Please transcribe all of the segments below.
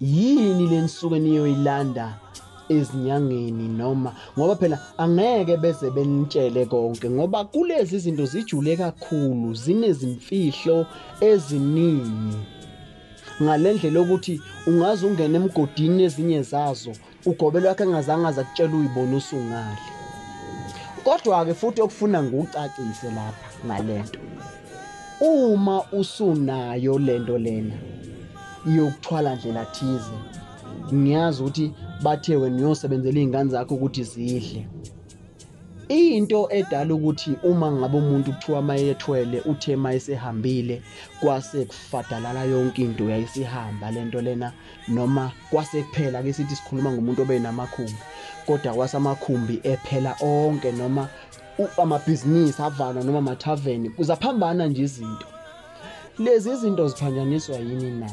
yini lenisuke niyoyilanda ezinyangeni noma ngoba phela angeke beze benitshele konke ngoba kulezi zinto zijule kakhulu zinezimfihlo eziningi ngalendlela ukuthi ungaze ungene emgodini ezinye zazo Ugobe lwakhe engazange aza kutshela uyibona usungali. Kodwa-ke futhi okufuna ngucacise lapha ngalento. Uma usunayo lento lena yokuthwala ndlela thize ngiyazi ukuthi bathe wena uyosebenzela izingane zakho ukuthi zidle into edala ukuthi uma ngabe umuntu kuthiwa mayethwele uthe mayesehambile kwase kufadalala yonke into yayisihamba lento lena noma kwase kuphela ke sithi sikhuluma ngomuntu obenamakhumbi kodwa kwase amakhumbi ephela onke noma amabhizinisi avalwa noma amathaveni kuzaphambana nje izinto lezi izinto ziphanjaniswa yini na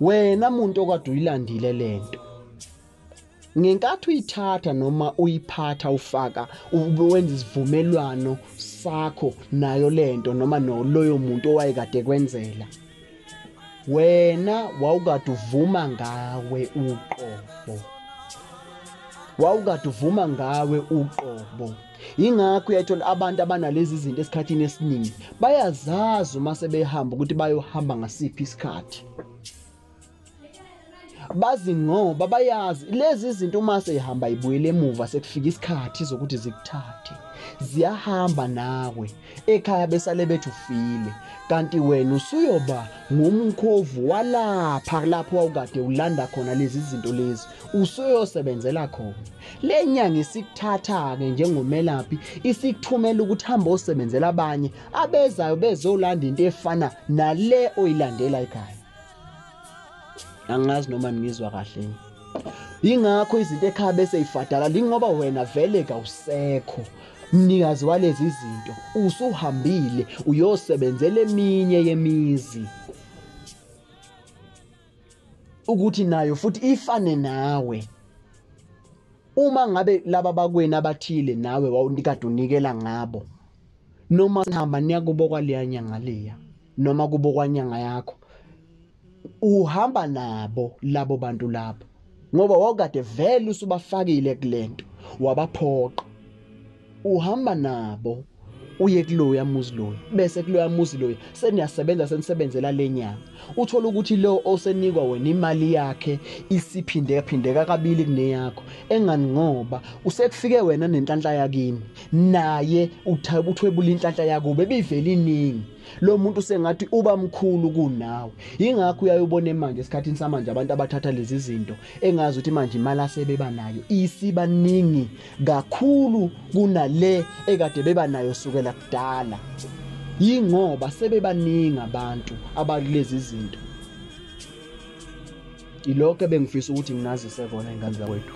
wena muntu okade uyilandile lento ngenkathi uyithatha noma uyiphatha ufaka ube wenza isivumelwano sakho nayo lento noma no loyo muntu owayekade kwenzela wena wawukade uvuma ngawe uqobo wawukade uvuma ngawe uqobo ingakho uyayithola abantu abanalezi zinto esikhathini esiningi bayazazi uma sebehamba ukuthi bayohamba ngasiphi isikhathi bazi ngoba bayazi lezi zinto uma seyihamba ibuyele emuva sekufika isikhathi zokuthi zikuthathe ziyahamba nawe ekhaya besale bethi ufile kanti wena usuyoba ngumkhovu walapha lapho wawukade ulanda khona lezi zinto lezi usuyoyosebenzela khona le nyanga isikuthatha-ke njengomelaphi isikuthumela ukuthi hambe osebenzela abanye abezayo bezolanda into efana nale oyilandela ekhaya angazi noma ningizwa kahle ingakho izinto ekhaya bese ifadala lingoba wena vele kawusekho mnikazi walezi zinto usuhambile uyosebenzela eminye yemizi ukuthi nayo futhi ifane nawe uma ngabe laba bakweni abathile nawe wawunikade unikela ngabo noma sihamba niya kubo kwaleya nyanga leya noma kubo kwanyanga yakho uhamba nabo labo bantu labo ngoba wakade vele usubafakile kulento wabaphoqa uhamba nabo uye kuloya muzi loyo bese kuloya muzi loyo seniyasebenza senisebenzela lenyanga Uthole ukuthi lo osenikwa wena imali yakhe isiphindekaphindeka kabili kuneyakho engani ngoba usekufike wena nenhlanhla yakini naye uthwebula inhlanhla yakubo ebivela iningi lo muntu sengathi uba mkhulu kunawe ingakho uyayobona manje esikhathini samanje abantu abathatha lezi zinto engazi ukuthi manje imali asebeba nayo isibaningi kakhulu kunale ekade beba nayo sukela kudala yingoba sebebaningi abantu abakulezi zinto ilokho ebengifisa ukuthi nginazise kona ingane zakwethu